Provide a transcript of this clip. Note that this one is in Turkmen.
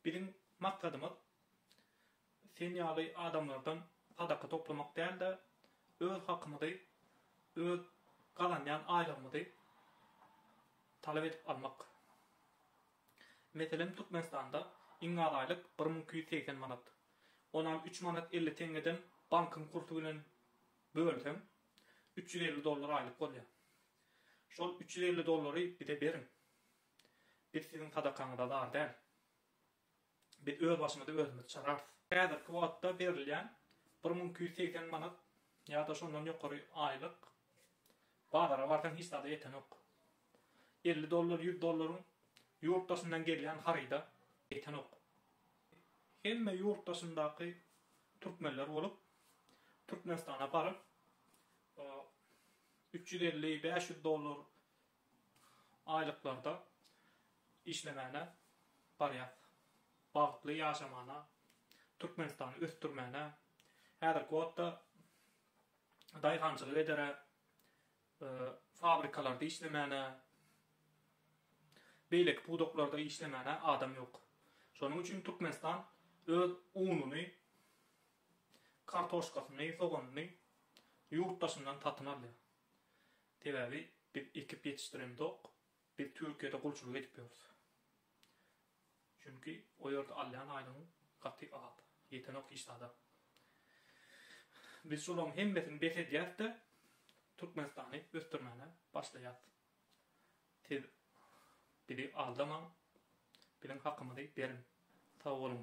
Biziň maksadymyz sen ýaly adamlardan sadaka toplamak däl-de, öz hakymyzy, öz gazanýan aýlygymyzy talap edip almak. Meselem, Türkmenistanda iň az aýlyk bir müň iki ýüz segsen manat. Onam üç manat elli teňňeden bankyň kursy bilen bölseň, üç ýüz elli dollar aýlyk bolýar. Şol üç ýüz elli dollary bize beriň. Biz siziň sadakaňyza zar däl. Biz öz başymyzy özümiz çararys. Häzirki wagtda berilýän bir müň iki ýüz segsen manat ýa-da şondan ýokary aýlyk bazara barsaň hiç zada ýetenok. Elli dollar, ýüz dollaryň ýurt daşyndan gelýän haryda ýetenok. Hemme ýurt daşyndaky türkmenler bolup, Türkmenistana baryp, üç ýüz elli, bäş ýüz dollar aýlyklarda işlemäne barýas bagtly ýaşamana Türkmenistany ösdürmäne häzirki wagtda daýhançylyk edere fabrikalarda işlemäne beýleki pudaklarda işlemäne adam ýok şonuň üçin Türkmenistan öz ununy kartoşkasyny soganyny ýurt daşyndan satyn alýar Sebäbi biz ekip ýetişdiremzok, biz Türkiýede gulçulyk edip ýörüs. Çünki o ýerde alýan aýlygyň gaty az, ýetenok hiç zada. Biz şolaryň hemmesini bes edýäs-de, Türkmenistany ösdürmäne başlaýas. Siz bizi aldamaň, biziň hakymyzy beriň. Sag boluň.